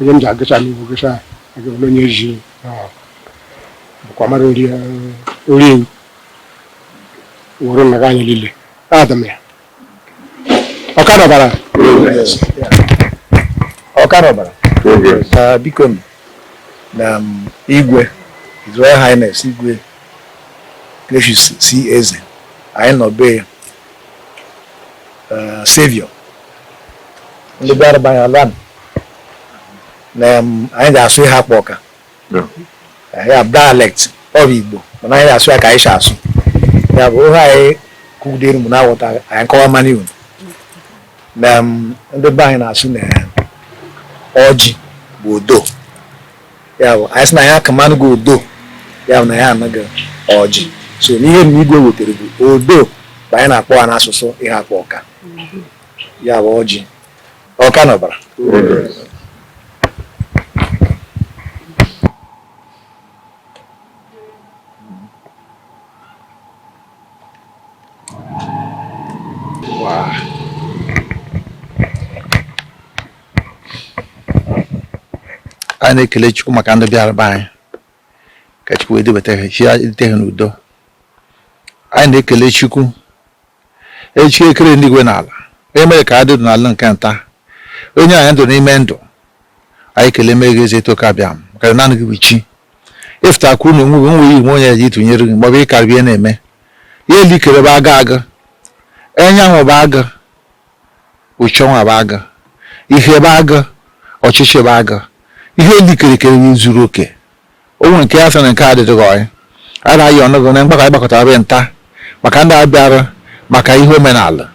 onye m ji agụcha m iwu gụcha agụbụla onye ji bụkwa mara orie wụrụ maka anyị niile adị m ya Awka na Ọbara Awka na Ọbara na biko m na igwe His Royal Highness igwe Gracious C. Eze anyị nọ be ya eh, Savior ndị bịara be anyị ala na anyị ga-asụ Iheakpu Awka eh, ya dialect ọ bụ Igbo mana anyị ga-asụ ya ka anyị si asụ ya bụ ohe anyị kụgidere mụ na-aghọta anyị kọwa mmanụ iwu na ndị be anyị na-asụ na ọjị bụ odo ya bụ anyị sị na anyị akamanụ gị odo ya bụ na anyị enye gị ọjị so ihe igwe wetere bụ odo bụ anyị na-akpọ ha n'asụsụ Iheakpu Awka ya bụ ọjị Awka na Ọbara anyị na-ekele Chukwu maka ndị bịara be anyị ka Chukwu edubata ha chi edute ha n'udo anyị na-ekele Chukwu chi kere enigwe na ala onye mere ka a dị n'ala nke nta onye anyị ndụ n'ime ndụ anyị ekeleme gị Ezetoke Abịama ka naanị gị bụ chi ị fụta kwụrụ na onwe gị o nweghị onye e ji tụnyere gị maọbụ ịkarịbịa na-eme ihe lile i kere bụ aga aga enyanwụ bụ aga uchenwa bụ agụ ihe bụ agụ ọchịchị bụ agụ ihe lile i kere kere zuru oke o nwere nke a sị na nke a adịghị ọyị a na-ayọnụ gị na mgbakọ anyị gbakọtara be nta maka ndị a bịara maka ihe omenala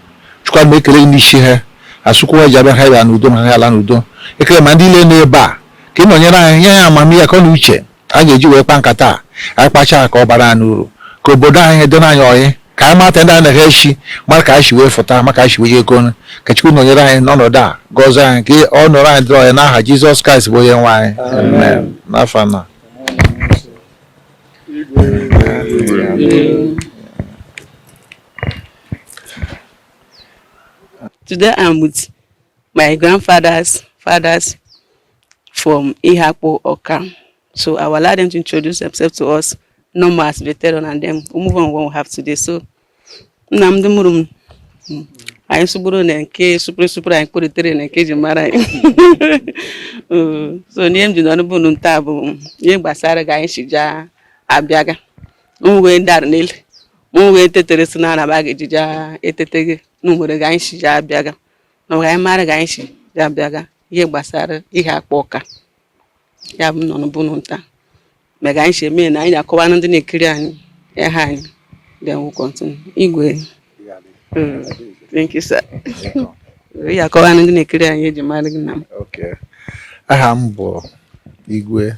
Chukwu Abịama ekele gị n'isi ha a sị ụkwụ ji abịa ha bịa n'udo ma ha ala n'udo ekele ma ndị lile nọ ebe a ka ị nọnyere anyị nye anyị amamihe akọ na uche a ga-eji wee kpa nkata a anyị kpachaa ka ọ bara anyị uru ka obodo anyị dịna anyị ọyị ka anyị mata ndị anaghị echi mara ka anyị si wee fụta ma ka anyị si wee jekọ ọnụ ka Chukwu nọnyere anyị n'ọnọdụ a gọzie anyị ka ọ nọrọ anyị dịrị ọyị n'aha Jizọs Kraịst bụ onye nwe anyị amen n'afọ na Today I'm with my grandfathers fathers from Iheakpu Awka. So I will allow them to introduce themselves to us, normal as veteran, and then we move on what we have today. So nna m ndị mụrụ m, anyị asụburu na nke supere supere anyị kpụritere na nke e ji mara anyị so n'ihe m ji nọrọ bụ nta bụ ihe gbasara ga anyị si jaa abịaga m wee dara n'elu m wee tetere si na anaba ga-eji jaa etete gị na nwere ga anyị si jaa abịaga na anyị mara ga anyị si jaa abịaga ihe gbasara Iheakpu Awka ya bụ nọ n'ụbụrụ nta mega anyị si eme na anyị akọwa na ndị na-ekiri anyị aha anyị then we'll continue igwe Mm, thank you sir ị akọwa na ndị na-ekiri anyị ihe eji mara gị nna m Okay. aha m bụ igwe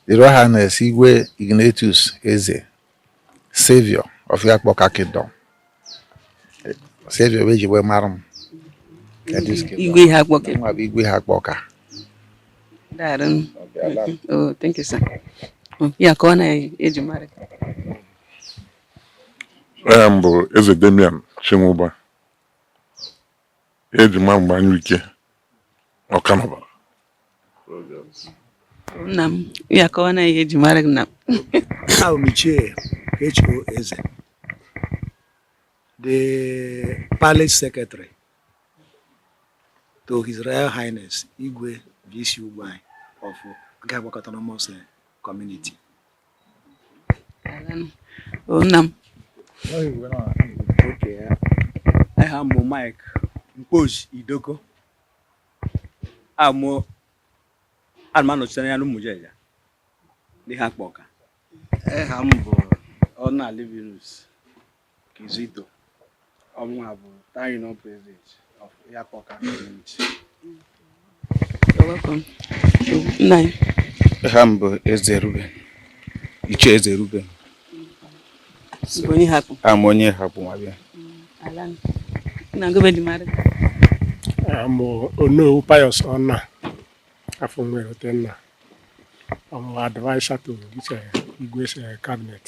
His Royal Highness igwe Ignatius eze Savior of Iheakpu Awka Kingdom. Savior bụ ihe eji wee mara m. Igwe Iheakpu Awka. Mụwa bụ igwe Iheakpu Awka. Daarụ. Oh, thank you sir. Oh, ya akọwa na ihe eji mara. Aha m bụ Eze Damian Chinwuba. Eji ma m bụ Anyụike ọkanọba nna m ya akọwa na ihe eji mara gị nna m abụ m Ichie H.O. Eze the palace secretary to his royal highness igwe V.C. Ugwuanyi of Iheakpu Awka autonomous community nna m aha m bụ Mike Mkpozi Idoko amụ ana m anọchite anya n'Umujeja n'Iheakpu Awka aha m bụ Ọna Livinus Kizito amụwa bụ Town Union President of Iheakpu Awka Community. aha m bụ Eze Ruben Ichie Eze Ruben amụ onye Iheakpu nwa bịa amụ Onowu Pius Ọna afụ nwa erote nna amụ advisor to Igwe's cabinet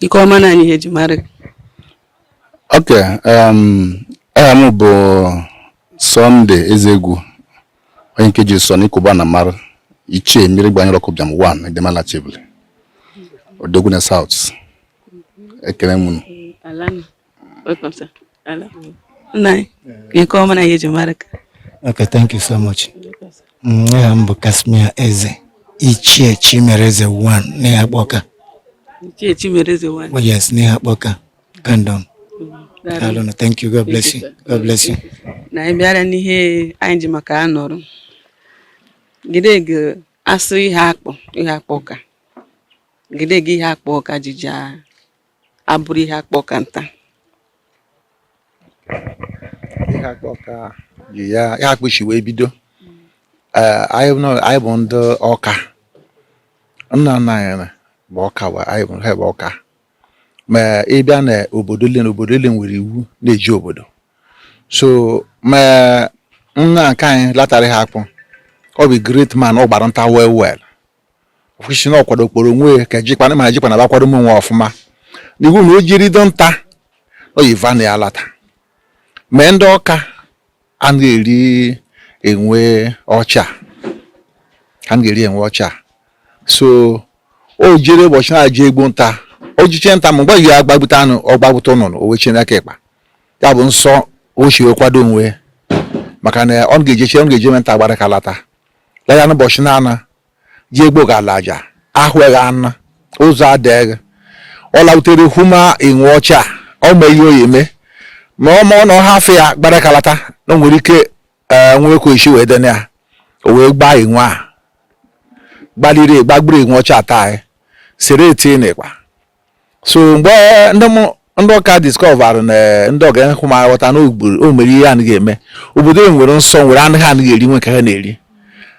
ị kọwa na anyị ihe eji mara ok um, aha m bụ Sunday ezegwu onye nke ji sọ n'ikuba na mara ichie mmiri gbanyere ọkụ bịam 1 edemala chebule odogwu na South ekele m Welcome, sir. Ala nụ. Nna anyị. Ị kọwa na ihe eji mara gị. Okay, thank you so much. Aha m bụ Casmir Eze, Ichie Chimereze 1 n'Iheakpu Awka. Ichie Chimereze 1. Oh, yes, n'Iheakpu Awka Kingdom. Daalụ na thank you. God bless you. God bless you. Na anyị bịara n'ihe anyị ji maka ya nọrọ. Gide gị asụ Iheakpu, Iheakpu Awka. Gide gị Iheakpu Awka ji jaa abụrụ Iheakpu Awka nta Iheakpu Awka ji ya Iheakpu shi wee bido Eh, anyị nọ- anyị bụ ndị Awka nna nna anyị na- bụ Awka wa anyị bụ ha bụ Awka ma ị bịa na obodo ile na obodo ile nwere iwu na-eji obodo so ma nna nke anyị latara Iheakpu ọ bụ great man ọ gbara nta well well kwụsị na ọ kwado kporo onwe ka jikwana ma jikwana bakwado m onwe ọfụma n'iwu na o jere do nta o yiva na ya lata ma ndị Awka anaghị eri enwe ọcha ha anaghị eri enwe ọcha so o jere ụbọchị na-aja egbo nta o jeche nta ma mgbe ya agbagbute anụ ọ gbagbute nnụnụ o wechie n'aka akpa ya bụ nsọ o si wee kwado onwe maka na ọ ga-ejeche ọ ga-eje nta agbara aka lata la ya n'ụbọchị na-ana ji egbo ga-ala aja ahụghị anụ ọzọ adịghị ọ lautere hụma enwe ọcha ọ ma ihe o yi eme ma ọ ma ọ na ọ hafụ ya gbara aka lata na o nwere ike ee nwekwa isi wee dene ya o wee gbaa enwe a gbaliri gbagburu enwe ọcha taa sere tie n'akpa so mgbe ndị Awka discover na eh, ndị Awka hụ ma ghọta na o mere ihe anaghị eme obodo e nwere nsọ nwere anụ ha anaghị eri nwee nke ha na-eri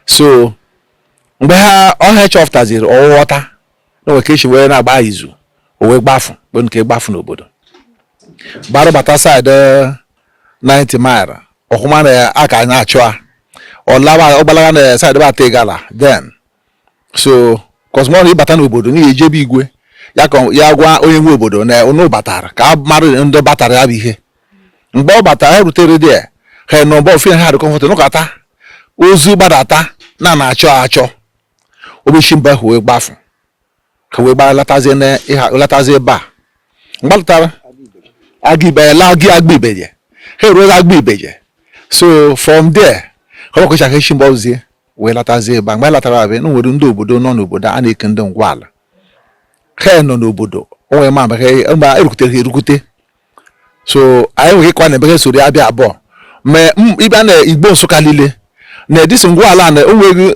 so mgbe ha ọha chọpụtaziri ọ ghọta na nwe ka e si wee na-agba izu o wee gbafu mgbe nke gbafu n'obodo gbara bata side 9th eh, mile ọ hụma na a ka na-achụ ya ọ lawa ọ gbalaga na side bata Igala then so cos ụnụ bata n'obodo n'ihi eje be igwe ya ka ya gwa onye nwe obodo na ụnụ batara ka a mara ndị batara ya bụ ihe mgbe ọ batara ya rutere there ha nọ mgbe ofe ha dị comfort nọkata ozi gbadata na a na-achọ achọ ọ bịa shi ebe ahụ wee gbafu ka wee gbara latazie na ịha latazie ebe a mgbe ha latara Aguibeje laa gị Aguibeje ha eruola Aguibeje so from there ka ọ kwụchaghị echi mgbe ọzie wee latazie ebe a mgbe anyị latara ebe a na nwere ndị obodo nọ n'obodo a na-eku ndị ngwa ala ha nọ n'obodo onwe ma mgbe ha erukwutere ha erukwute so anyị nwere ịkwa na ebe ha soro ya bịa abụọ ma ị bịa na Igbo Nsụka niile na edisi ngwa ala na o wee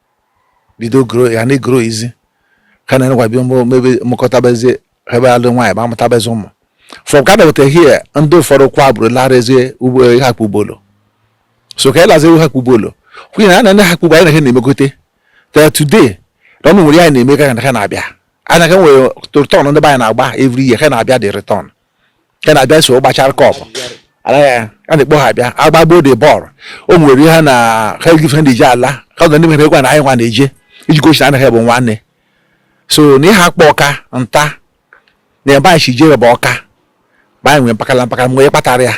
bido grow ya na-egrowzi ka na enekwa bịa mebe mụkọtabezie ebe alụ nwaanyị ma amụtabezi ụmụ from ka na-eweta here ndị ụfọdụ kwa bụrụ larazie ugbo Iheakpu Obollo so ka e lazie Iheakpu Obollo kwunye na ana ndị Iheakpu Obollo anyị na ha na-emekọta till today na o nwere ihe a na-eme ka ha na-abịa anyị ka nwere return ndị be anyị na-agba every year ha na-abịa the return ka na-abịa so gbachara cup a na-ekpo ha abịa agbagbo the ball o nwere ihe na ha ejife ndị ji ala ha na ndị mere egwu na anyị nwa na-eje iji gosi na anyị bụ nwanne so na ịhakpụ ọka nta na ebe anyị si jere bụ ọka ma anyị nwere mpakala mpakala mgbe kpatara ya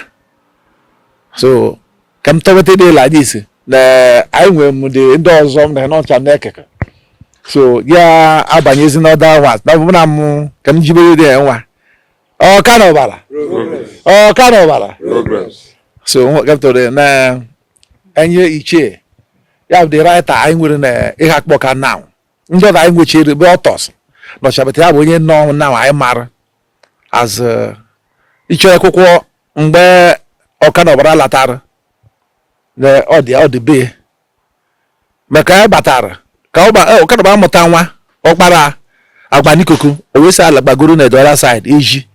so ka m tọweta dị ịla anyị isi na anyị nwere m dị ndị ọzọ m na n'ọcha m na-ekeke so ya abanyezi n'order nwa na ọbụna m ka m jibere dị ya nwa ọka na ọbara ọka na ọbara so gapụtara na enye ichie ya bụ the writer anyị nwere na ịhakpụ ọka now ndị ọzọ anyị nwechere bụ authors nọcha but ya bụ onye nọ na anyị mara as uh, ichie akwụkwọ mgbe ọka na ọbara latara na ọ dị ọ dị be maka ya batara ka ọkadaba amụta nwa ọkpara agba n'ikuku o wee si ala gbagoro na the other side eji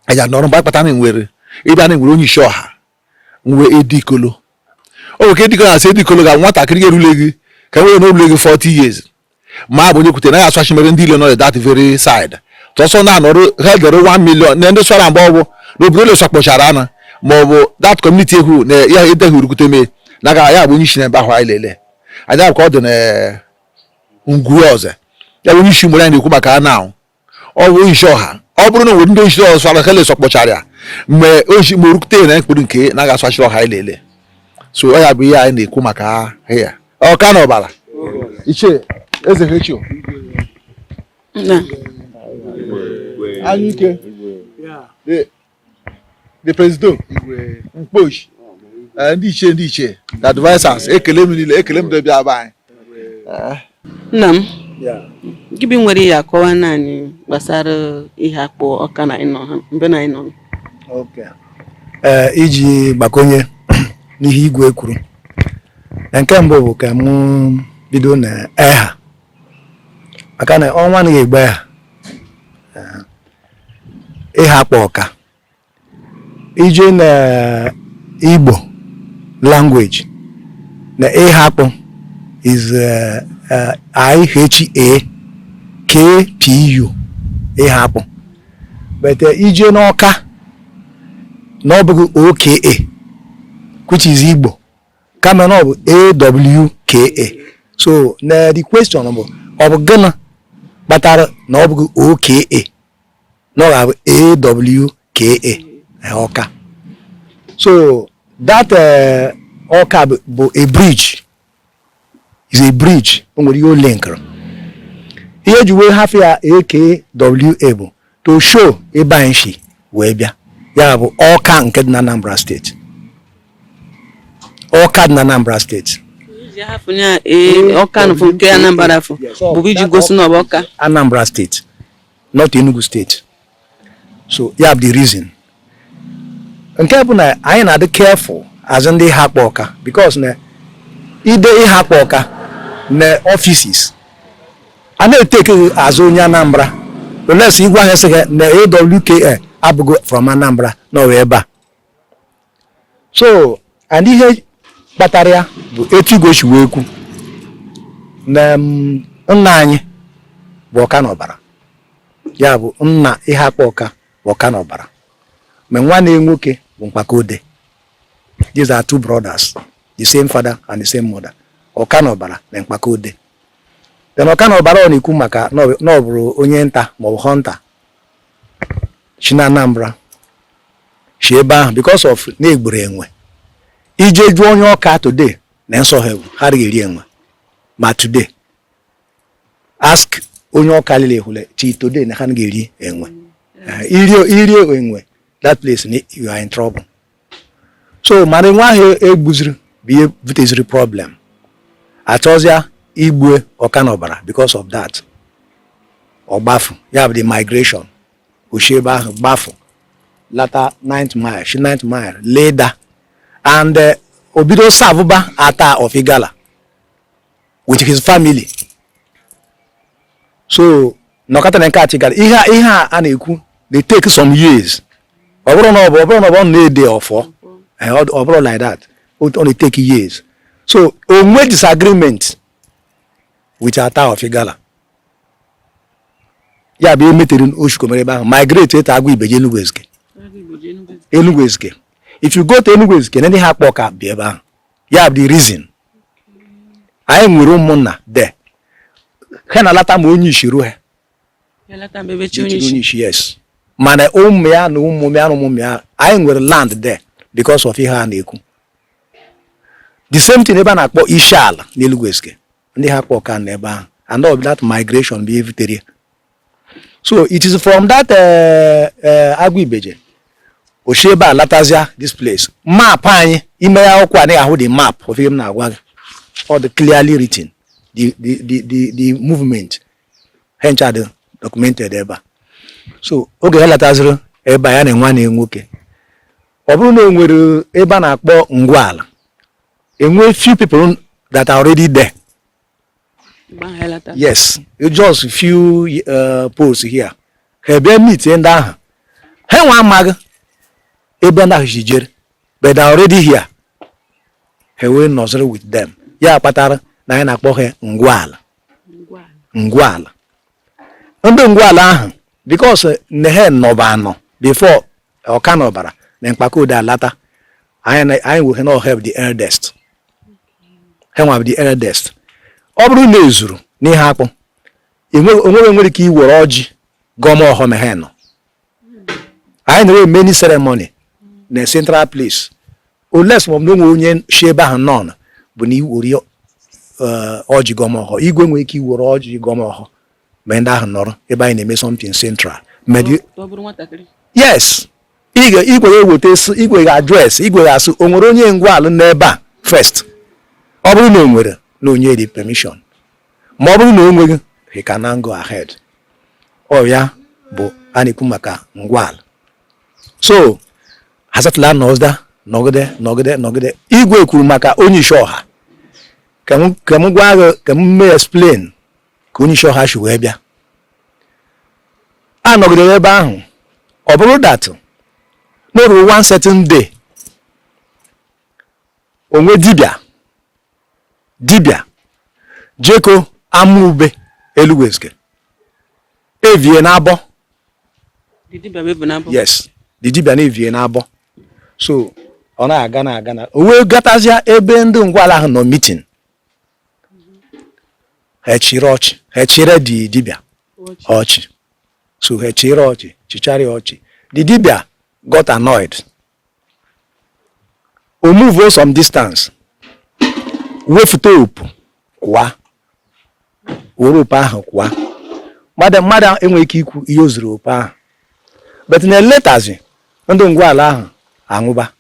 anya nọrọ mgbe akpata na nwere ebe a na-enwere onye isi ọha nwe edikolo o nwere ka edikolo na-asị edikolo ga nwatakịrị ga-erule gị ka nwere na orule gị 40 years ma bụ onye kwute na ya aswachi mere ndị ile nọ that very side tọsọ na-anọrụ ha dere 1 million na ndị swara mgbe ọgwụ na obodo ole swakpọchara ana ma ọ bụ that community ekwu na ya edeghị urukwute mee na aga ya bụ onye isi na ebe ahụ anyị lele anya bụ ka ọ dị na ngwu ọzọ ya bụ onye isi mgbe anyị na-ekwu maka na ọ ọ bụ isi ọha ọ bụrụ na nwere ndị isi ọzọ swara ha le swakpọchara ya mgbe ochi ma orukute na mkpụrụ nke na aga asachiri ọha anyị lele so ọ ya bụ ihe anyị na-ekwu maka ya ọka na ọbara ichie eze hechio anyike the president mkposhi eh, ndị ichie ndị ichie the advisers ekele m niile ekele m ndị ọbịa be anyị eh. nna m gị bi nwere ihe akọwanụ anyị gbasara ịhakpụ ọka na ịnọ ha mbe na ịnọ eh, iji gbakonye n'ihe igwe kwuru nke mbụ bụ ka mụ bido na eha maka na ọnwa anaghị egbe eha ịhakpụ ọka i jee na igbo language na ịhakpụ is uh, uh, I-H-A-K-P-U ịhakpụ but uh, i jee n'ọka na ọ bụghị OKA which is igbo kama na ọ bụ awka so na the question bụ ọ bụ gịnị kpatara na ọ bụghị oka na ọ ga-abụ awka eh, ọka so that eh, ọka bụ a bridge is a bridge o nwere ihe o linkere ihe eji wee hafụ ya AKWA bụ to show ebe anyị si wee bịa ya bụ ọka nke dị na Anambra steeti ọka dị na Anambra steeti ọka nke Anambra bụ iji gosi na ọ bụ ọka Anambra steeti not Enugu steeti so ya bụ the reason nke bụ na anyị na-adị careful as ndị Iheakpu Ọka because na i dee Iheakpu Ọka na offices a na-etake as onye Anambra unless ị gwa ha sị na AWKA abụghị from Anambra na ọ wụ ebe a so and ihe kpatara ya bụ etu igwe si wee kwu na mm, nna anyị bụ ọka n'ọbara ya bụ nna Iheakpu Ọka bụ ọka n'ọbara ma nwanne ya nwoke bụ mkpakode these are two brothers the same father and the same mother ọka n'ọbara na mkpakode then ọka n'ọbara ọ na-ekwu maka na ọ bụ- na ọ bụrụ onye nta maọbụ hunter si na Anambra si ebe ahụ because of na e gburu enwe ị jee jụọ onye ọka today na nsọ ha bụ ha adịghị eri enwe ma today ask onye ọka lile ọwụle till today na ha anaghị eri enwe i rie enwe that place you are in trouble so mana enwe ahụ e gbuziri bụ ihe buteziri problem a chọzịa igbue ọka n'ọbara because of that ọ gbafụ ya bụ the migration o shi ebe ahụ gbafụ lata 9th mile shi 9th mile laa Idah and eh, o bido servụba Attah of Igala with his family so nọkata na nke Igala ihe ihe a na-ekwu dey take some years ọ bụrụ na ọ bụ ọ bụrụ na ọ bụ na-ede ọfọ eh, ọ bụrọ like that ọ na-etake years so o nwee disagreement with Attah of Igala ya bụ ihe metere o shikomere ebe ahụ migrate to Aguibeje Enugu Ezike Enugu Ezike if you go to Enugu Ezike na ndị Iheakpu Ọka bi ebe ahụ ya bụ the reason anyị nwere ụmụnna there ha na-alata ma onye isi ruo ha onye isi yes mana ụmụ ya na ụmụ ya na ụmụ ya anyị nwere land there because of ihe a na-ekwu the same thing ebe a na-akpọ isi ala n'Enugu Ezike ndị Iheakpu Ọka nọ ebe ahụ and all that migration bụ ihe butere so it is from that eh, eh, Aguibeje o shi ebe a latazia this place ma ị banye ime ya akwụkwọ anyị ahụ the map of ihe m na-agwa gị ọ dị clearly written the the the the, the movement ha ncha dị documented ebe a so oge ha lataziri ebe a ya na nwanne nwoke ọ bụrụ na o nwere ebe a na-akpọ ngwa ala e nwe few people that are already there yes just few uh, posts here ha bịa meet ndị ahụ ha nwe amaghị ebe ndị ahụ si jere but they are already here ha wee nọziri with them ya kpatara na anyị na-akpọ ha ngwaala ngwaala ndị ngwaala ahụ because na ha nọba anọ before ọka na ọbara na mkpakode alata anyị wee na ha bụ the eldest ha wee bụ the eldest ọ bụrụ na e zuru n'Iheakpụ o nwere nwere ike iwere ọjị gọọma ọhọ ma ha nọ anyị na-enwe many ceremony na central place unless ma ọ bụ na o nwe onye si ebe ahụ nọ bụ na iwere ọjị gọọma ọhọ igwe nwere ike iwere ọjị gọọma ọhọ ma ndị ahụ nọrọ ebe anyị na-eme something central yes igwe ga-eweta igwe ga-address igwe ga-ask o nwere onye ngwaala n'ebe a first ọ bụrụ na o nwere na o nye the permission ma ọ bụrụ na o nweghị he can now go ahead ọ ya bụ a na-ekwu maka ngwaala so ha settle-a nọzda nọgide nọgide nọgide igwe kwuru maka onye isi ọha ka m gwa gị ka m mee explain ka onye isi ọha si wee bịa a nọgidere ebe ahụ ọ bụrụ that na o ruru one certain day o nwe dibịa dibịa jeko Amube Enugu Ezike evu ihe na abọ yes the dibịa na-evu ihe na abọ so ọ na-aga na-aga na o wee gatazịa ebe ndị ngwala ahụ nọ meeting ha chịrị ọchị ha chịrị the dibịa ọchị so ha chịrị ọchị chịchara ya ọchị the dibịa got annoyed o move some distance wefute opu kwaa were opu ahụ kwaa mmadụ enweghị ike ikwu ihe o ziri opu ahụ but na eletazi ndị ngwaala ahụ anwụba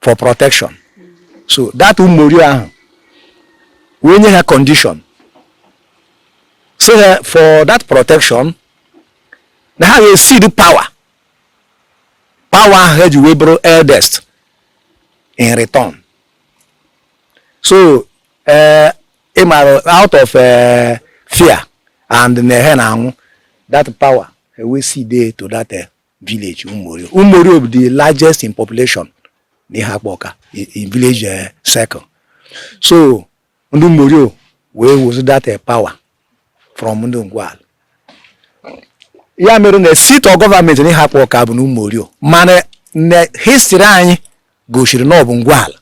for protection so that ụmụorio ahụ wee nye ha condition sị ha for that protection na ha ga-cede power power ahụ ha ji wee bụrụ eldest in return so eh, ị mara out of eh, fear and na ha na-anwụ that power ha wee cede to that eh, village Ụmụorio. Ụmụorio bụ the largest in population n'Iheakpụ Ọka in village uh, circle so ndị Ụmụorio wee wezi that uh, power from ndị Ngwal ya mere na seat of government n'Iheakpụ Ọka bụ na Ụmụorio mana na history anyị gosiri na ọ bụ Ngwal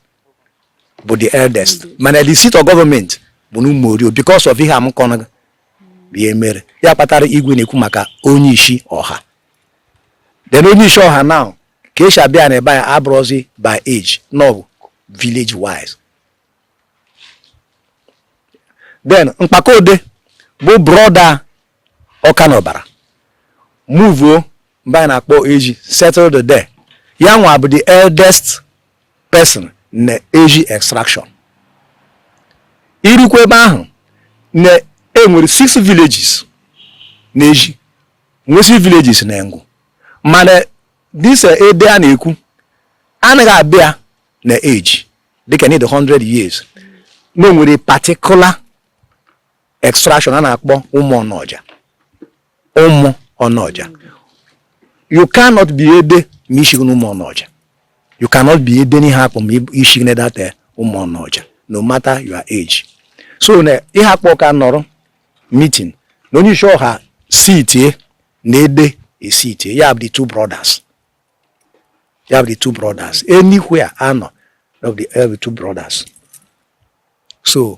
bụ the eldest mana the seat of government bụ na Umorio because of ihe a m kọrọ ihe mere ya kpatara igwe na-ekwu maka onye isi ọha then onye isi ọha now ka esi abịa na ebe anyị abụrụzi by age no village wise then Mkpakode bụ brother Awka na Ọbara muvuo mbe a na-akpọ Eji settled there ya nwa bụ the eldest person na Eji extraction irukwa ebe ahụ na enwere six villages na Eji nwee six villages na Engwu mana this eh, ede a na-ekwu anaghị abịa na age dịka n'ịdị 100 years na onwere particular extraction a na-akpọ ụmụ ọnọja ụmụ ọnọja you cannot be ede ma ishighi n'ụmụ ọnọja you cannot be ede n'Iheakpu ma ishighi na that eh, ụmụ ọnọja no matter your age so na Iheakpu Awka nọrọ meeting na onye isi ọha sitie na ede esitie ya bụ the two brothers ya bụ the two brothers anywhere anọ of the, of the two brothers so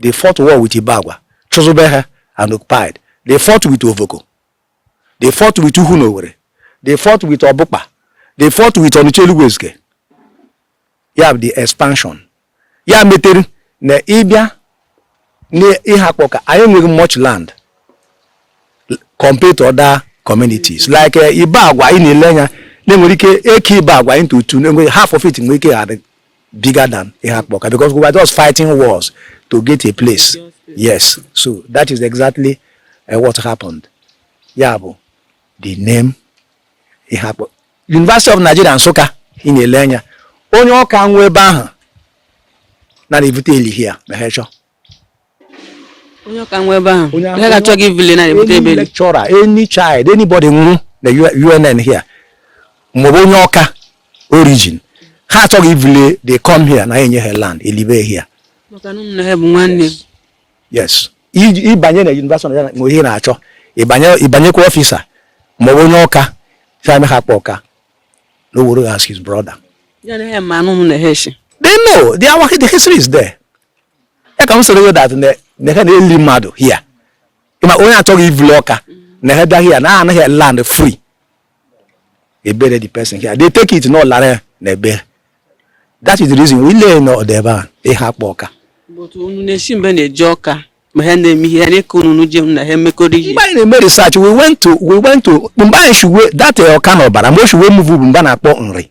they fought war with Ibagwa, chụzube ha and occupied. They fought with Ovoko. They fought with Uhunowere. They fought with Obukpa. They fought with Onicha Elugwu Ezike. You have the expansion. Ya metere na ịbịa n'Iheakpu Awka anyị enweghị much land compared to other communities like eh, Ibagwa ị na-ele anya na-enwere ike eke Ibagwa into two half of it nwere ike adị bigger than Iheakpu Awka because we were just fighting wars to get a place yes so that is exactly uh, what happened ya bụ the name Iheakpu University of Nigeria Nsụka ị na-ele anya onye Awka nwụọ ebe ahụ na a na-ebute eli here ma ha chọọ onye Awka nwụọ ebe ahụ onye ha achọghị ivule na ebute ebe lecturer any child anybody nwụrụ na UNN here ma ọ bụ onye Awka origin ha achọghị ivule they come here na enye ha land elibe here yes ịbanye na university na nwe ihe ị na-achọ ịbanyekwa office ma ọ bụ onye Awka sị am Iheakpu Awka na ọ were as his brother they know the history is there ya ka m sịrị gị that na ha na-eli mmadụ here ma onye achọghị ivule Awka na ha bịa here na enye ha land free they bury the person here they take it na ọ lara na be ya that is the reason we lee na ọdọ ebe a Iheakpu Awka unu na-esi mbe na-eje Awka ma ha na-eme ihe anyị ka unu je na ha emekọrọ ihe mgbe anyị na-eme research we went to we went to mbe anyị shuwe that Awka na Ọbara mbe o shi we move bụ mbe a na-akpọ Nri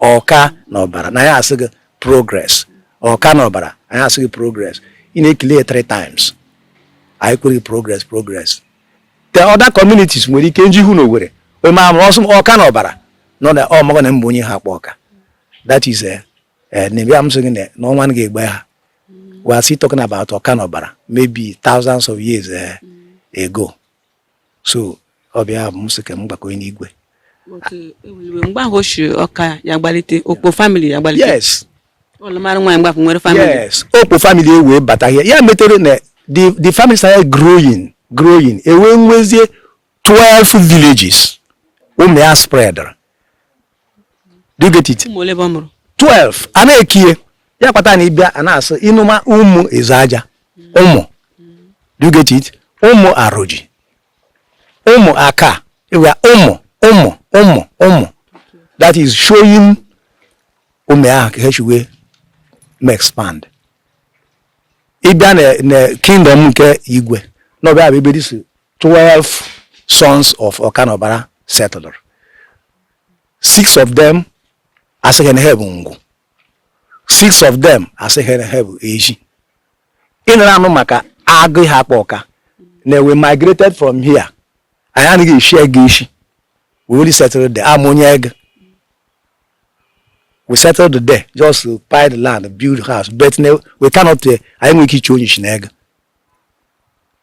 ọka na ọbara na ya asị gị progress ọka na ọbara anyị asị gị progress ị na-ekele ya three times anyị kwere gị progress progress the other communities nwere ike nji hụ na Owerri onye ma amụrụ ọsọ ọka na ọbara nọ na ọmụgọ na m bụ onye Iheakpu Awka that is eh, eh, na ebe amụsị gị na ọnwa na ga-egbe ha we are still talking about ọka na ọbara maybe thousands of years eh, ago so ọ bụ ya bụ m sị ka m gbakọnye n'igwe mgbe ahụ o si ọka ya gbalite okpo family ya gbalite yes ọ lụmara nwaanyị mgbapụ nwere family yes okpo family e wee bata here ya metere na the the family started growing growing e wee nwezie 12 villages ụmụ ya spreadara do you get it 12 a na-ekiye ya kpata na ị bịa a na-asị ị nụma ụmụ Ezeaja ụmụ do you get it ụmụ Aroji ụmụ aka ịwa ụmụ ụmụ ụmụ ụmụ that is showing ụmụ ahụ ka ha shi wee ma expand ị bịa na kingdom nke igwe na ọ bụ ya bụ ebe this 12 sons of Okanobara settled. Six of them a sị ha na ha bụ Ngwu. Six of them a sị ha na ha bụ Ezi. Ị nụranụ maka Agụ Iheakpu Awka na we migrated from here. Anyị anaghị eshi egu eshi. We only settled there. Amụnye egu. We settled there just to buy the land, build house, but we cannot, eh, anyị enwe ike ichi onyishi na egu.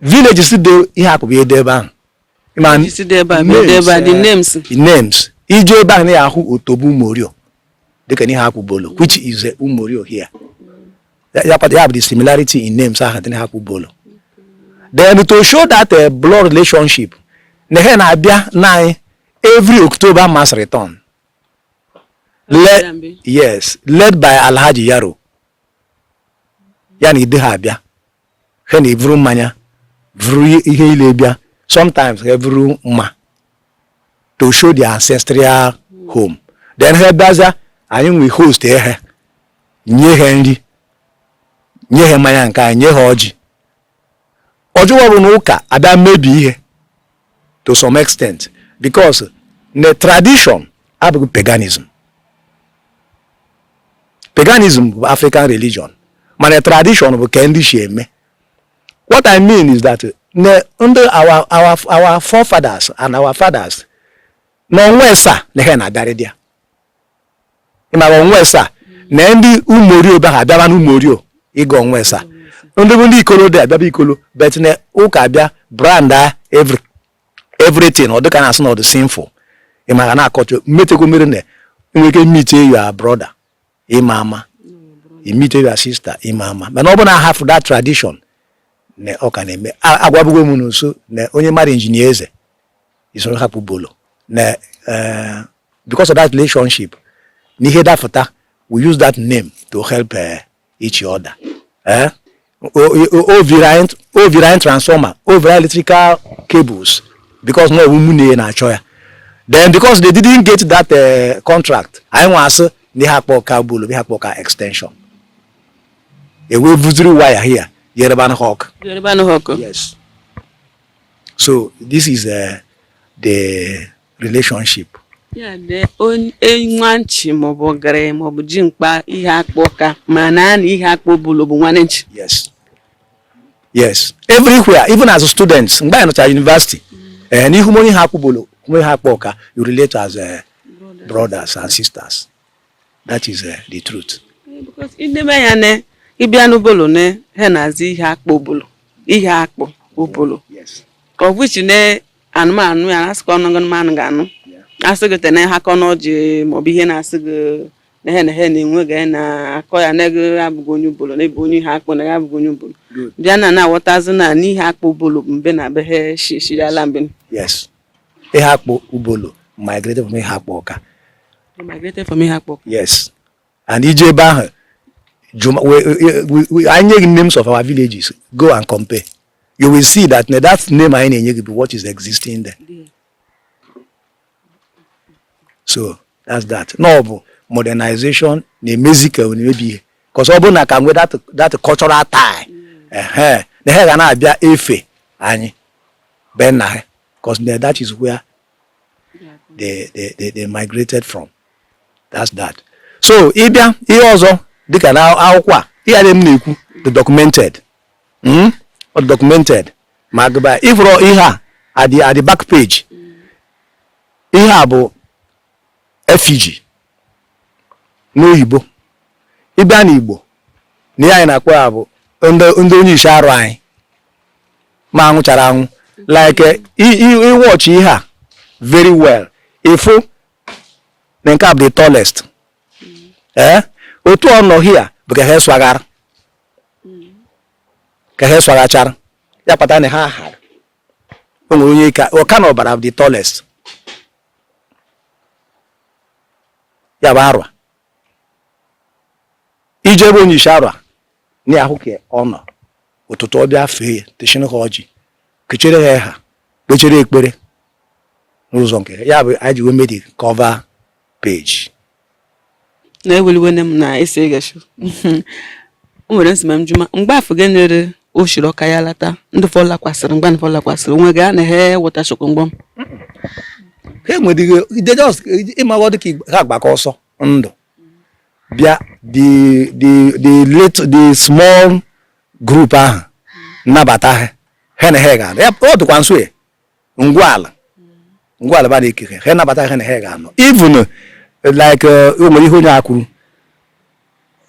villages dị Iheakpu bụ ede ebe ahụ Ma villages dị ebe a, bụ ede ebe a, the eh, names. the names ị je ebe ahụ na ya ahụ otobo umorio dịka Iheakpu Obollo which is eh, umorio here ya ya kpata- ya bụ the similarity in names ahụ dị na Iheakpu Obollo then to show that uh, blood relationship na ha na-abịa na anyị every october mass return led, yes led by alhaji yaro ya na ndị ha abịa ha na-evuru mmanya vuru ihe ile bịa sometimes ha vuru mma to show the ancestral home then ha bịaza anyị wee host ha nye ha nri nye ha mmanya nke anyị nye ha ọjị ọjọọ bụ na ụka abịa mebi ihe to some extent because the tradition abụghị paganism paganism bụ african religion mana tradition bụ ka ndị shi eme what i mean is that na ndị our our our forefathers and our fathers na o nwe sa na ha na-abịarị dị ya ị mara ọnwa esaa na ndị umorio bịa ha bịaba n'umorio ịga ọnwa esaa ndị bụ ndị ikolo dị abịaba ikolo but na ụka abịa brand a everything ọ dịka na-asị na ọ dị sinful ị mara na-akọcha mmetekọ mere na i nwere ike meet your brother ị ma ama i meet your sister ị ma ama mana ọ bụ na hafụ that tradition na ọ ka na-eme agwabụgo m unu sị na onye mara injinia eze isoro Iheakpu Obollo na eh, because of that relationship na ihe dafụta we use that name to help eh, each other eh? o vuru anyị transformer o vuru anyị electrical cables because na ọ wụ mụ na na-achọ ya then because they didn't get that uh, contract anyị nwa asị ndị Iheakpu Awka bulu ndị Iheakpu Awka extension e wee vuziri waya here yeruba n'Awka yeruba n'Awka yes So this is uh, the relationship. Ya dị nwanchi maọbụ ogerenyi maọbụ jimkpa Iheakpu Awka ma na ha na Iheakpu Obollo bụ nwanne nchi. Yes. Yes. Everywhere, even as students, mgbe anyị nọchara university, eh, na ị hụ onye Iheakpu Obollo, onye Iheakpu Awka you relate as uh, brothers and sisters. that is uh, the truth because ihe na-eme ya ne ị bịa n'Obollo ne ha na-aza Iheakpu Obollo Iheakpu Obollo of which ne anụmanụ ya asị ka ọnụgụ mmanụ ga-anụ asị gị tene ha kọ n'ọjị maọbụ ihe na-asị gị na ha na ha na-enwe ga na-akọ ya na gị abụghị onye Obollo na ị bụ onye Iheakpu na ya abụghị onye Obollo bịa na na-aghọtazi na n'Iheakpu Obollo mbe na be ha shishirala mbe yes Iheakpu Obollo migrated from Iheakpu Awka migrated from Iheakpu Awka yes and i je ebe ahụ anyị nye gị names of our villages go and compare you will see that na that name anyị na-enye gị bụ what is existing there so that's that na ọ bụ modernization na-emezi ka a na-emebi ihe because ọ bụrụ na a ka nwe that cultural tie na ha ga na-abịa efe anyị be nna ha because that is where they, they, they, they migrated from that's that so ị bịa ihe ọzọ dịka na akwụkwọ a ihe a dum m na-ekwu dị documented hmm? documented ma gụba ị fụrụ ihe a at the, at the back page ihe a bụ effigy n'oyibo ị bịa n'igbo na ihe anyị na-akpọ ya bụ ndị onyishi arụa anyị ma anwụchara anwụ like i watch ihe a very well ị fụ na nke a bụ the tallest ee eh? otu ọ nọ here bụ ka ha eswaghara ka ha eswaghachara ya kpata na ha hara o nwere onye ka ọka na ọbara the tallest ya bụ arụa ije ebe onye isi arụa na ahụ ka ọ nọ ụtụtụ ọ bịa fee ya techin ha ọjị kechere ha ha kpechere ekpere n'ụzọ nke ya bụ anyị ji wee mee the cover page na eweliwene m na esi egashu o nwere nsima m juma mgbe afọ gị nyere o shiri ọka ya lata ndị fọ lakwasịrị mgbe fọ lakwasịrị onwe gị a na he wọta shọkụ mgbọ m ha enwere ihe ide just ịmaghọ dị ka ha gbakọ ọsọ ndụ bịa the the the little the small group ahụ nabata ha ha na ha ga-anọ ọ dịkwa nso ya ngwala ngwala ba na-ekere ha nabata ha na ha ga-anọ even like uh, o nwere ihe onye a kwuru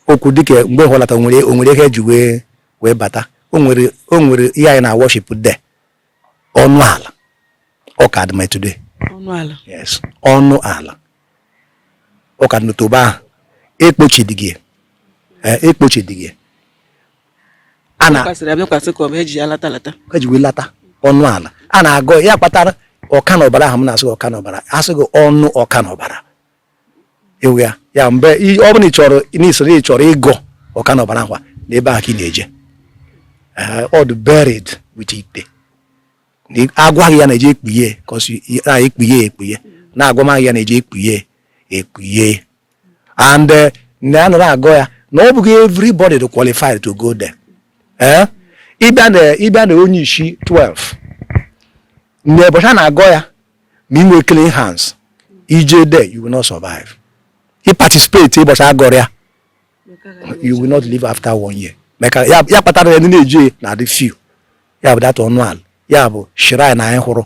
okwu dịka mgbe ha lata nwere o nwere ihe ha ji wee wee bata o nwere o nwere ihe anyị na worship there ọnụ ala ọ ka dị ma today ọnụ ala yes ọnụ ala ọ ka dị n'otobo ahụ ekpochidịghị ekpochidịghị a na kwasịrị abịakwasị ka ọ bụ eji ya lata lata eji wee lata ọnụ ala a na-agọ ya kpatara ọka na ọbara ahụ m na-asị gị ọka na ọbara asị gị ọnụ ọka na ọbara ewu ya ya mgbe i- ọ bụla ị chọrọ ịgọ ọka na ọbara ahụ a, na ebe ahụ ka ị na-eje Eh, ọ dị buried with ite Na ị- agwaghị ya na-eje ekpughe kọsi na ekpughe ekpughe na-agwamaghị ya na-eje ekpughe ekpughe and eh, na anọrọ agọ ya na ọ bụghị everybody dị qualified to go there eh? ịbịa na onye isi 12 na ụbọchị a na-agọ ya ma ị nwee clean hands ije there you will not survive i participate ịbọchị agọrọ ya you will not live after one year maka ya kpatara ndị na-eje na-adị few ya bụ that ọnụ ala ya bụ shrine anyị hụrụ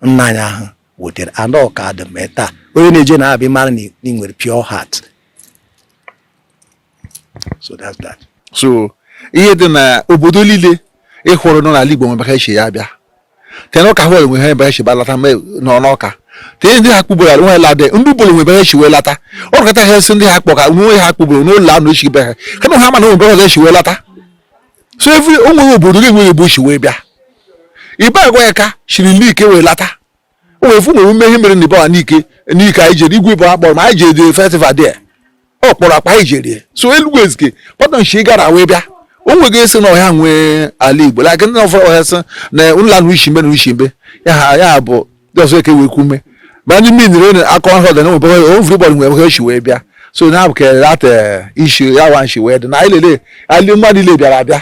nna anyị ahụ wetere and ọ ka dị ma taa onye na-eje na-abịa mara na ị nwere pure heart so that's that. so ihe dị na obodo niile ị hụrụ nọ n'ala Igbo nwere ebe o shi ya abịa tee n'ọka hụ enwe ha ebe ha si balata nọ n'ọka tee ndị ha kpụbụrụ ala nwe lade ndị Obollo nwe ebe ha si wee lata ọ rụkọta ha esi ndị Iheakpụ Ọka nwe ha kpụbụrụ n'ụlọ anụ esi be ha kama ha mana nwe ebe ha esi wee lata so every o nwere obodo ga-enwe ebe o si wee bịa Ibagwa Aka siri Nike wee lata o wee fụ nwere ume ihe mere na ibe a n'ike n'ike anyị jere igwe bụ akpọrọ ma anyị jere festival there ọ kpọrọ akpa anyị jere so Elugwu Ezike pọtọ nshi gara wee bịa o nweghị esi na ọha nwe ala igbo like ndị na ọfọrọ ọhịa sị na ụlọ anụ ushi mbe na ushi mbe ya ha ya bụ just like we kume but ni mean re na akọ ho da no bo o vru bo nwe ho shi we bia so na ke that uh, issue ya wan shi we da na ile le ali ma ni le bia bia